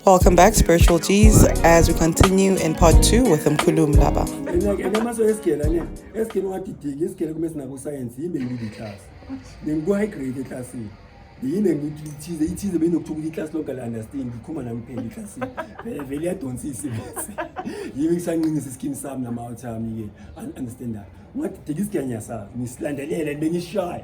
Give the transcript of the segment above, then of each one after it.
Welcome back, Spiritual G's, as we continue in part two with Mkulu Mlaba. yini engithi ithize ithize benokuthuka ukuthi iklasi lonke li-understand ngikhuma nami phela eklasini vele vele iyadonsa iyisebenzise yimi ngisancinisa isikhini sami nama-out ami-ke understandayo ungadideki isigiyanyasazi ngisilandelela benishaya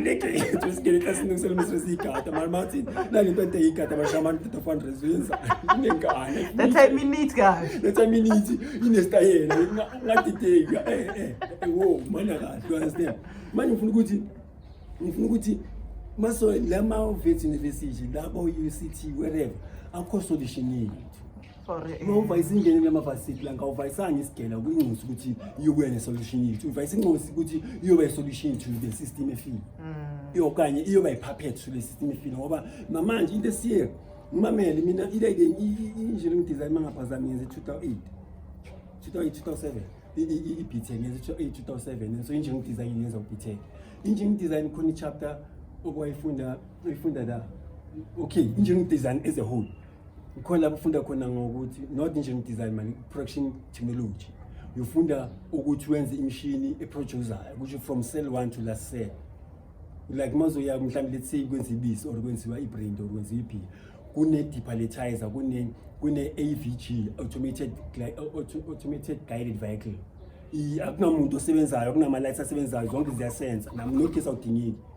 Ngeke yethu sigele xa silungisela umsebenzi igada mali mathi nani into ente igada basha abantu kuthi fundraise yenza ingane that's a minute guys that's a minute inestayela ngadideka eh eh wo mana kahle you understand manje ngifuna ukuthi ngifuna ukuthi maso lama vethu university labo UCT wherever akho solution yethu Nova isingene kula mavasiti la ngawuvayisanga isigela ukunxusa ukuthi iyobuya ne-solution yethu uvayisa inxusa ukuthi iyoba i-solution to the system efile mm. okanye iyoba i-puppet to the system efile ngoba namanje into esiye ngimamele mina ileke i-engineering design uma ngaphazami ngenze 2008 2007 i-btec ngenze 2007 so engineering design ngenza u-btec engineering design khona i-chapter okwayifunda uyifunda la okay engineering design as a whole Khona lapho ufunda khona ngokuthi not engineering design mani production technology. Ufunda ukuthi wenze imishini eproducer ukuthi from cell 1 to last cell. Like mazoya mhlawumbe let's say kwenza ibisi or kwenziwa ibrand or kwenziwa ibhiya. Kune depalletizer, kune kune AVG automated automated guided vehicle. akunamuntu osebenzayo akunama-lights asebenzayo zonke ziyasenza nam nogesi awudingeki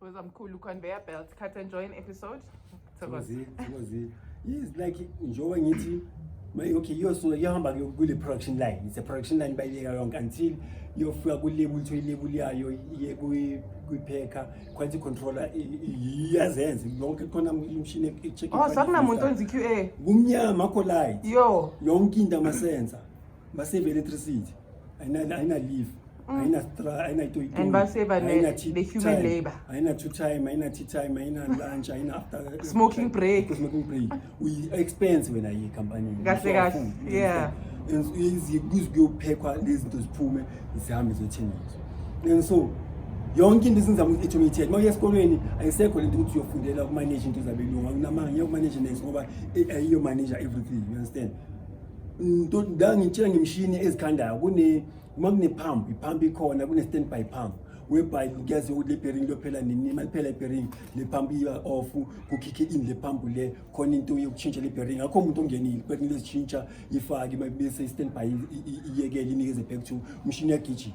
Weza mkhulu conveyor belt cut and join episode. Thokozile, thokozile. Yes like njobe ngithi okay iyosuka iyahamba kule production line it's a production line bayiyeka yonke until iyofika kulebuli kuthiwa ilebuli yayo iye kwiphekha quality controller iyazenza yonke khona imishini echeck oh sakunamuntu onzi QA kumnyama akho light yo yonke into amasensa masave electricity Haina haina leave. Mm. Haina stra, haina to And ba say ba ne the human labor. Haina to time, haina tea time, haina lunch, haina after smoking break. Smoking break. We expense when I company. Kahle kahle. Yeah. Izi kuziyophekwa lezi zinto ziphume zihambe zothengiswa. And so yonke into isinzama uku-automate uma uye esikolweni ayisekho lento ukuthi uyofundela ukumanage into zabelungu akunamanga ngeke umanage next ngoba ayiyo manager everything you understand ngangitshela ngemishini ezikhandayo kune uma kunephampu iphampu ikhona kune-stand by phampu whereby ngeze le bearing lophela nini imali phela ibearing le pump iya off kukhikhe in le pump le khona into yokutshintsha le bearing akho umuntu ongenile bearing lezitshintsha ifake bese i standby iyekele inikeze back to mshini yagijima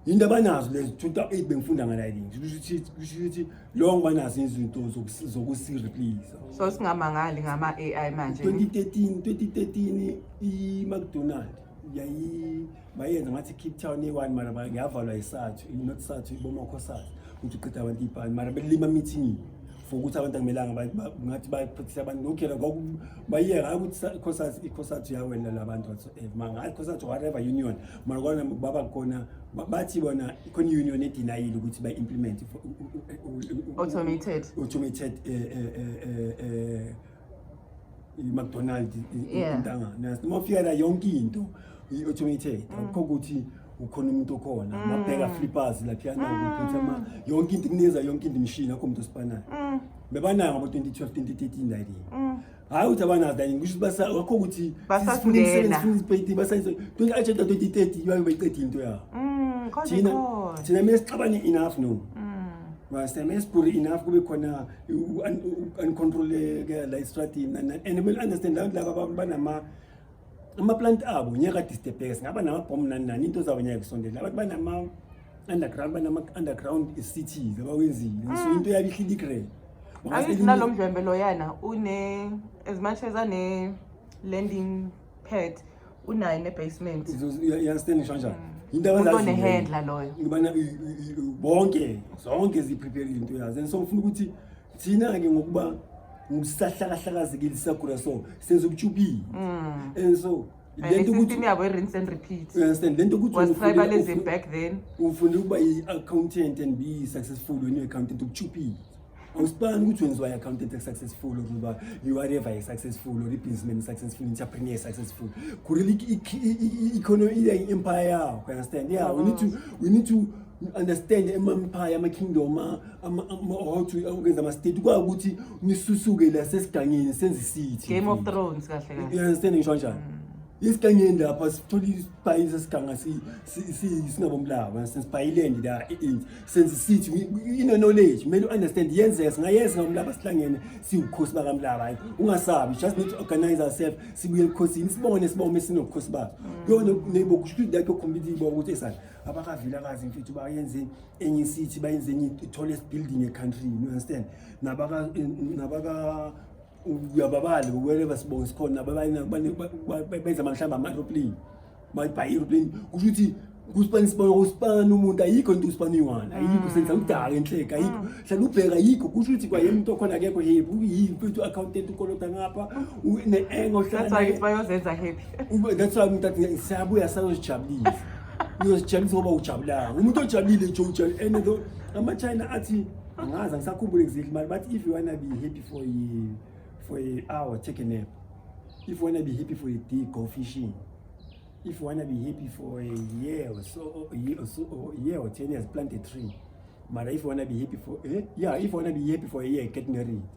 yinto abanazo lezi thunta eight bengifunda ngalayilingi kusho ukuthi kusho ukuthi lonke banazo izinto zokusi- zokusireplace so singamangali ngama-ai manje 2013 2013 i-mcdonald yayi bayenza ngathi cape town eyi-one mara ba- yavalwa yisathu not sathu ibomakhosathu ukuthi uqeda abantu ipani mara belima meeting for ukuthi abantu akumelanga ba- ba- ngathi baphethise abantu nokhela bayiyeka hayi ukuthi sa- ikhosathu ikhosathu yawela labantu whatsoever manga hayi ikhosathu whatever union mara kwana baba khona bathi bona khona union edinayile ukuthi ba implement automated automated eh, eh, eh, McDonald intanga nasi uma ufika la yonke into automated mm. akukho ukuthi ukhona umuntu okhona mm. mabheka flippers lapha na ukuthi ama mm. yonke into kuneza yonke into imishini akho umuntu osipanayo bebanayo ngabo 2012 2013 la hayi ukuthi abanazdanye ngisho ukuthi wakho ukuthi sifuna imisebenzi sifuna izipeyiti basayise tonke agenda twenty thirty ibabe bayiqedile into yabo mm, thina thina kumele sixabane enough no wasema esibhuri enough kube khona uncontroleke la estratini and kumele understand laba bantu banama amaplant abo ngeke adistebheke singaba namabhomu nani nani into zabo ngeke kusondela abantu banama underground banama underground cities abawenzile so mm. into yabo ihlile igrey angithi nalomdlwembe loyana une as much as ane landing pad unayo ne-basement understand ngisho kanjani mm. into abazazihendla loyo ngibana bonke zonke ziprepare into yazo and so ngifuna ukuthi thina-ke ngokuba ngisahlakahlakazekile isagula so senza ukutshubile mm. and so lento ukuthi yabo rinse and repeat you understand lento ukuthi was tribalism back then ufuna ukuba i accountant and be successful when you accountant ukutshubile awusibani ukuthi wenziwa i-accountant esuccessful or uba i-whatever i-successful or i-businessman i-successful entrepreneur i-successful kurele i-economy i-empire yakho understand yeah we need to we need to understand emampire ama-kingdom how to ukwenza ama-state kwaya ukuthi nisusuke la sesigangeni senze isithi game of thrones kahle kahle you understand ngisho kanjani mm. esigangeni lapha sithola isibhayi sesiganga singabomlawa understand sibhayiland la e-ins senze isithi ino-knowledge kumele u-understand yenzeka singayenza ngamlaba sihlangene siwukhosi bakamlaba hayi ungasabi just need to organize ourselves sibuye ebukhosini sibone sibongo esinobukhosi baso mm. kuyona neibokusho ukuthi lapho khombisa iboka ukuthi esani abakavile akazi mfethu bayenze enye isithi bayenze enye i-tallest building ekhantrini you understand nabaka nabaka uyababali wele basibonge sikhona benza mhlawumbe ama-aeroplane bayibhaye i-aeroplane kusho ukuthi kusipani sibona kusipani umuntu ayikho into usipani one ayikho senza ukudaka enhleka ayikho mm. hlala ubheka ayikho kusho ukuthi kwaye umuntu okhona akekho hebu yimpi uthi accountant ukolota ngapha ne-engo hlala that's why umuntu athi siyabuya sazozijabulisa uyozijabulisa ngoba ujabulayo umuntu ojabulile nje ujabule and though ama-china athi angazi angisakhumbule ngizidla imali but if you wanna be happy for a, for a hour take a nap if you wanna be happy for a day go fishing if you wanna be happy for a year or so or a year or, so, or, a year or 10 years plant a tree mara if you wanna be happy for eh? yeah if you wanna be happy for a year get married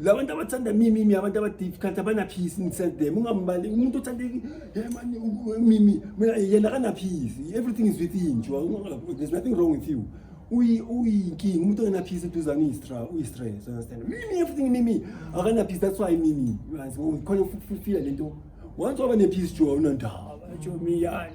labantu abathanda mimi mi abantu abadifficult abanaphisi ngisend them ungambali umuntu othanda hey mani mimi mina yena akanaphisi everything is within nje there's nothing wrong with you uyinkinga umuntu onenaphisi eduzane uyistra uyistress understand mimi everything mimi akanaphisi that's why mimi khona ufila lento once waba nephisi jo unondaba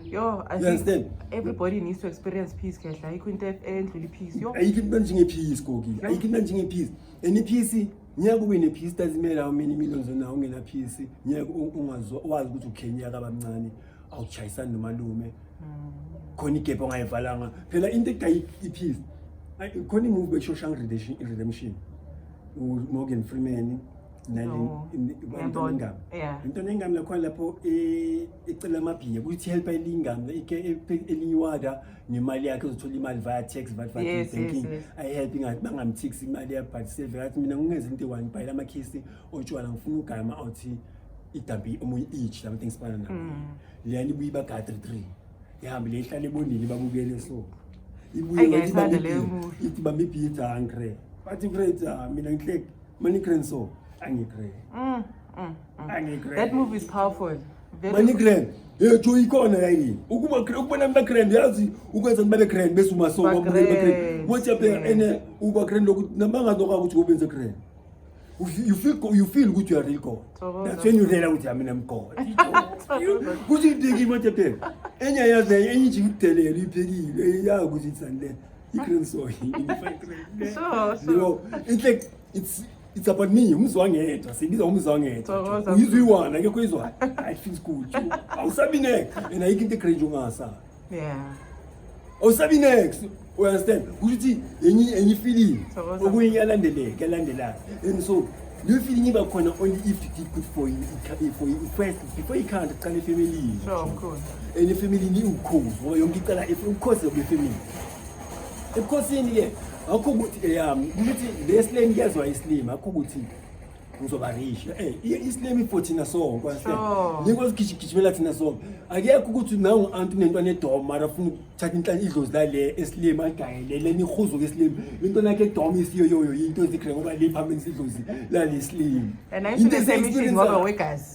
Yo, I you understand? Everybody needs to experience peace, Kesha. You couldn't have endluli peace. Yo. Ayikho into njenge peace, Koki. Ayikho into njenge peace. Any PC ngeke ube ne PC tazimela umini millions na ungena PC ngeke ungazwa wazi ukuthi uKenya kabamncane awuchayisani nomalume hmm. khona igepe ongayivalanga phela into egayi iPC khona imove beShawshank Redemption uMorgan Freeman nalento nengama into nengama lakhona lapho icela amabhiya kuthi help elingama ike eliyiwada nemali yakhe uzothola imali via tax vat vat Yes, banking yes, yes. ayihelp ingathi bangamthiksi imali yakhe but save ngathi mina ngingenza into eyi-one ngibhayela amakhisi otshwala ngifuna ugaya ama-outhi idambe omunye ichi lama things fana nawo Mm. leyani ibuye ibagaya three three ihambe le ihlale ebonile ibabukele so ibuye Ayi, ngathi ngiyayithanda ibambe leyo ibhi- movie. ithi bambe ibhida hangre bathi great ah, mina ngihleki mani grand so angigreat Mm, mm, mm. angigreat That movie is powerful. Mani grand. Eh jo ikona yini? Ukuba ukubona mina grand yazi ukwenza nibe grand bese uma so wabuka grand. Wathi yaphela ene uba grand lokuthi namangazoka ukuthi ubenze grand. You feel you feel ukuthi you are real God. That's when you realize ukuthi mina mgod. Kuthi idiki manje phela. Enye yazi enye nje idelele iphekile. Yazi ukuthi it's unless. Ikrensoy. Ikrensoy. So, so. No, it's like It's it's about me, umzwangedwa. Sibiza umzwangedwa. Thokoza. Uyizwa iwana ke kwizwa. I feel good. Awusabi next. And ayikho into ecringe ungasa. Yeah. Awusabi next. U understand? Ukuthi enyi enyi feeling. Thokoza. Okunye yalandeleka, yalandelana. And so leyo feeling iba khona only if you did good for you, for you first before you can't qala ifamily. Sure, of course. And ifamily ni ukhozi. Ngoba yonke icala if ukhozi yokufamily. ebukhosini ke akho ukuthi eyami ngithi lesleni kezwa islima akho ukuthi ngizoba rich eh islima ifothina so kwase ngikozigijigijimela thina so akekho ukuthi nawe ngu-anti unento anedom mara funa ukuthatha inhlala idlozi lale eslima agayelele nihuzuke islima into nakhe edom isiyo yoyo yinto ezikre ngoba le phambili sidlozi lale islima into esemisini ngoba wegazi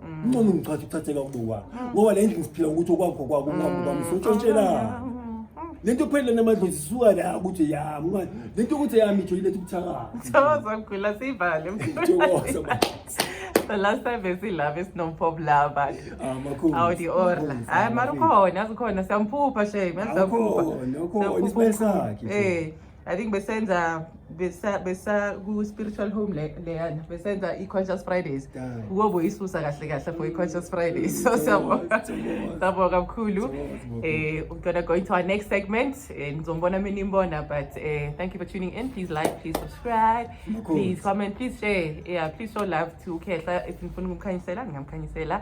uncono ungithathe uthathe kakubo kwami ngoba le ndlu siphila ukuthi okwakho kwakho kwakho kwami sontshontshelana le nto kuphela namadlozi isuka la ukuthi yami ungani le nto ukuthi yami ijo iletha ubuthakala thokoza mgwila siyivale thokoza the last time besilapha esinompop laba awudi orla hayi mara ukhona azikhona siyamphupha shame azikhona ukhona isibesakhe eh I think besenza besa besa ku spiritual home le leyana besenza i conscious fridays Dai. kubo isusa kahle kahle for i conscious fridays so siyabonga Siyabonga. siyabonga kakhulu Siyabonga, siyabonga. eh we're gonna go into our next segment eh, nizombona mina imbona but eh thank you for tuning in please like please subscribe Mkhulu. please comment please share yeah please show love to ukhehla if nifuna ukumkhanyisela ngingamkhanyisela